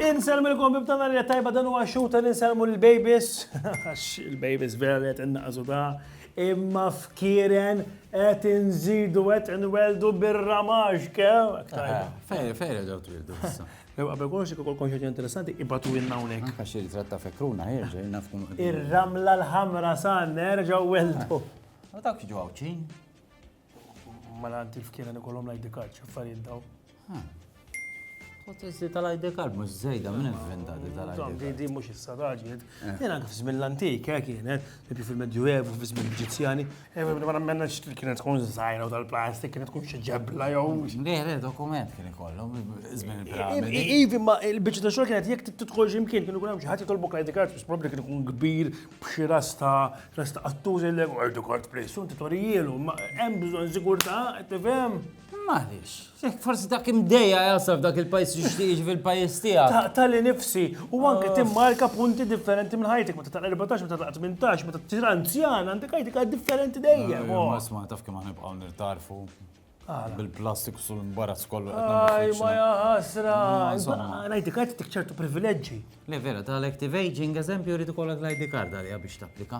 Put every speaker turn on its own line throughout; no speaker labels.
Inselmu l-kombib tana li tajba dan huwa xuta li nselmu l-babies. Għax il-babies vera li qed innaqsu da. Imma fkieren qed inżidu qed inweldu bir-ramax kew. Fejn fejn
reġgħu twildu issa. Ew qabel kollox jekk ikolkom
xi interessanti ibatuwilna hawnhekk. Anka xi ritratt ta' fekruna
ħerġa jien naf tkun. Ir-ramla l-ħamra
sa nerġgħu weldu. U dawk jiġu
għawċin?
Ma l-għanti f'kiena nikollhom l-ID card x'affarijiet daw. Potessi
tal-ID card mhux żejda minn inventati tal-ID. Di mhux issa raġel,
Kien anke f'żmien l-antik, eh, kienet, tipi fil-Medjuevu, f'żmien l-Eġizzjani. Eh, ma nemmenx li kienet tkun żgħira u tal-plastik, kienet tkun xi ġebla jew. Le, le, dokument
kien ikollhom żmien il-piramidi. Ivi, ma il-biċċa
ta' xogħol kienet jekk tidħol xi mkien kienu jkun hemm xi ħadd jitolbok l-ID card, biex probabbli kien ikun kbir b'xi rasta rasta qattuż il-lek ID card please, u inti torijielu, ma hemm bżonn sigurtà, tifhem? M'għaliex?
Jekk forsi dak imdejja jasal f'dak il-pajjiż jixtieq jiġi fil-pajjiż tiegħek. Taqta' li nifsi
u anke ah. timmarka punti differenti minn ħajtek meta taqla' 14, meta taqla' 18, meta tisir anzjan għandek ħajtek għad differenti dejjem. Eh, oh. Ma sma' taf kemm
nibqgħu nirtarfu. Bil-plastik sul imbarazz kollu. Aj, ma
jaħasra. L-ID card tik ċertu privileġġi. Le vera, tal-active
aging, eżempju, rridu kollok l-ID card għalija biex tapplika.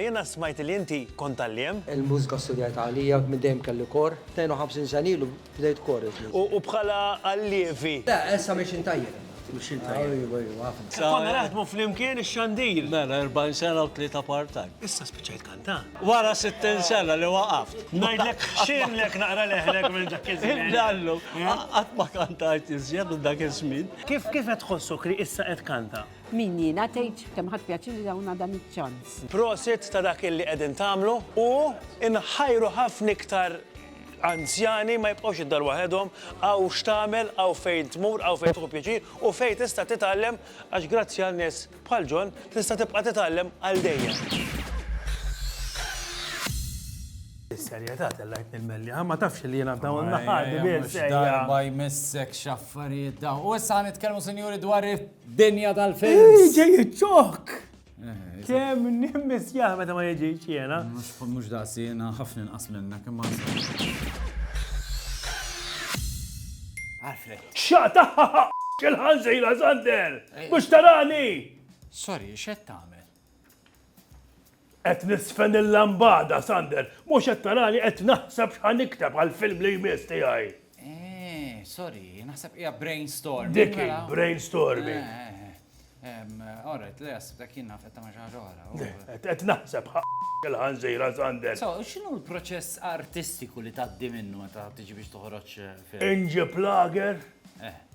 Jiena smajt li inti kont għalliem. Il-mużika studjajtha
għalija, minn dejjem kelli kor. 52 sena ilu bdejt kor iżda. U bħala
allievi? Le, issa mixin
tajjeb. Mixin tajjeb. Ejwa, ejwa, ħafna. Konna naħdmu
flimkien ix-xandir. Mela, 40 sena
u tlieta part-time. Issa spiċċajt kantant?
Wara 60
sena li waqaft. Ngħidlek, x'għinlek
naqra leħnek minn dak iż-żmien. Illallum,
qatt ma kantajt iżjed minn dak iż-żmien. Kif qed tħossok
li issa qed tkanta? Min jiena tgħid
kemm ħadt pjaċir li tawna dan iċ-ċans. Prosit ta' dak
illi qegħdin tagħmlu u nħajru ħafna iktar anzjani ma jibqgħux id-dar waħedhom, hawn x'tagħmel, hawn fejn tmur, hawn fejn tieħu pjaċir u fejn tista' titgħallem għax grazzi għal nies bħal John tista' tibqa' titgħallem għal dejjem. Bis-serjetà tellgħetni l-melli, ha ma tafx li jiena dawn l-aħħar. Darba jmissek
x'affarijiet dawn. U issa ħa nitkellmu sinjuri dwar Dinja tal-films. Iġi jitxok!
Kem nimmis jah meta ma jġiġ jena. Mux daqsi
jena ħafna nqas minna kem ma Alfred. ċata!
Xil-ħanżira Zander! Mux tarani! Sorry,
xed tamel? Qed
niżfen il-lambada, Sander. Mhux qed tarani qed naħseb x'ħa nikteb għall-film li jmiss tiegħi. Eh,
sorry, naħseb hija brainstorming. Dik hi, mela.
brainstorming. Eh,
eh, eh. All right, le jasib dak jien naf qed tagħmel xi ħaġa oħra. Qed naħseb
il-ħanżira Sander. So, x'inhu l-proċess
artistiku li tgħaddi minnu meta tiġi biex toħroġ film? Inġib lager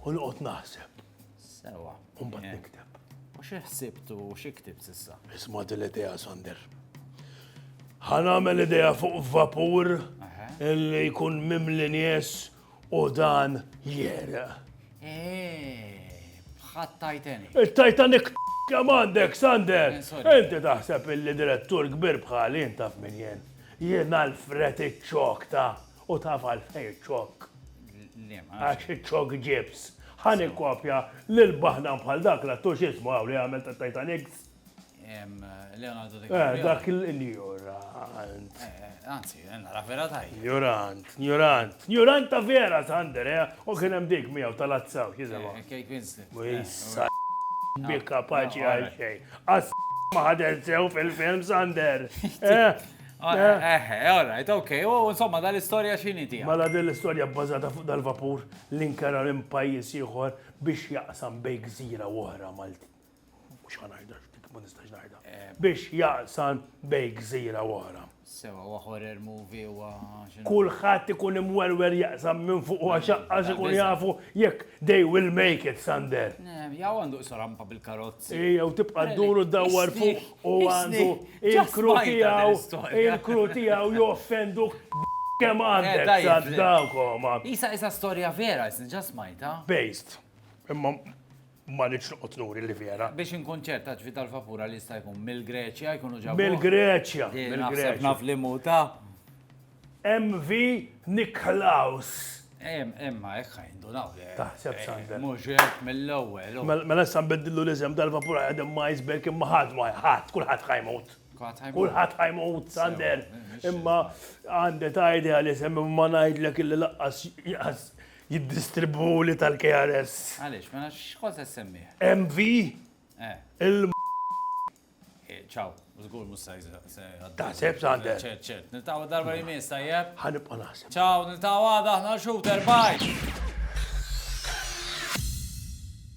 u noqgħod naħseb. Sewa.
U mbagħad nikteb.
U xi ħsibtu
u xi ktib s'issa? Isma' din l-idea
Sander. Ħa nagħmel idea fuq vapur li jkun mimli nies u dan jera. Eh,
bħat Titanic. Il-Titanic
kemm għandek, Sander? Eh, Inti taħseb
illi
direttur kbir bħali jintaf minn jien. Jien għal-fret iċ-ċokta. U taf għalfejn ċokk? Liema. Għax iċ-ċokk ġibs. Ħa nikkopja lil baħdan bħal dak l-attur x'ismu hawn li għamel tat-Titanics. Em,
Leonardo Eh, DiCaprio. dak
il-njurant. Eh, eh, Anzi,
eh, nara vera tajjeb. Njurant, njurant,
njurant ta' vera, Sander, eh? U kien hemm dik miegħu tal-azzaw, jisimha. Eh, Kate Winslet. U Eh,
jissa
bi kapaċi no, għal alright. xejn. Għas ma ħadel sew fil-film, Sander. Eh, Eħe,
all right, ok, u insomma dal-istorja xini tija. Mela din l-istorja bbażata
fuq dal-vapur li nkera minn pajjiż ieħor biex jaqsam bej gżira u oħra Malti. Mhux ħanajda dik ma nistax ngħidha. Eh. Biex jaqsam bej gżira u oħra. Sewa wa horror
movie wa. Kulħadd
ikun imwerwer jaqsam minn fuq u għax ikun jafu jekk they will make it Sander. Eh, jaw għandu
sorampa bil-karot. Jew tibqa' ddur
u ddawwar fuq u għandu il-kru tiegħu, il-kru tiegħu joffenduk b' kemm għandek saddakoma. Qisha qisha storja
vera, isni ġa smajtha. Based.
Imma ma rridx noqgħod nuri li vera. Biex inkun ċert, għax
Vital Vapura li jista' jkun mill-Greċja jkunu ġabuh. Mill-Greċja,
mill-Greċja. Naħseb naf
li mhu ta.
MV Nicklaus. Ehm,
imma hekk ħajndunaw le. Taħseb Sander.
Mhux hekk mill-ewwel.
Mela issa nbiddillu
l-isem tal-vapur ħadem ma iceberg imma ħadd ma ħadd kulħadd ħajmut. Kulħadd ħajmut Sander. Imma għandi ta' idea li semmi ma ngħidlek illi laqqas jiddistribu li tal-KRS. Għaliex, mela x'kont se semmih? MV? Eh. Il
Eh, ciao, zgur mus sajz. Ta' seb
sande. Ċert, ċert. Niltaw darba
li mis, tajjeb? Ħanibqa naħseb. Ciao, niltaw għada, ħna xu, terbaj.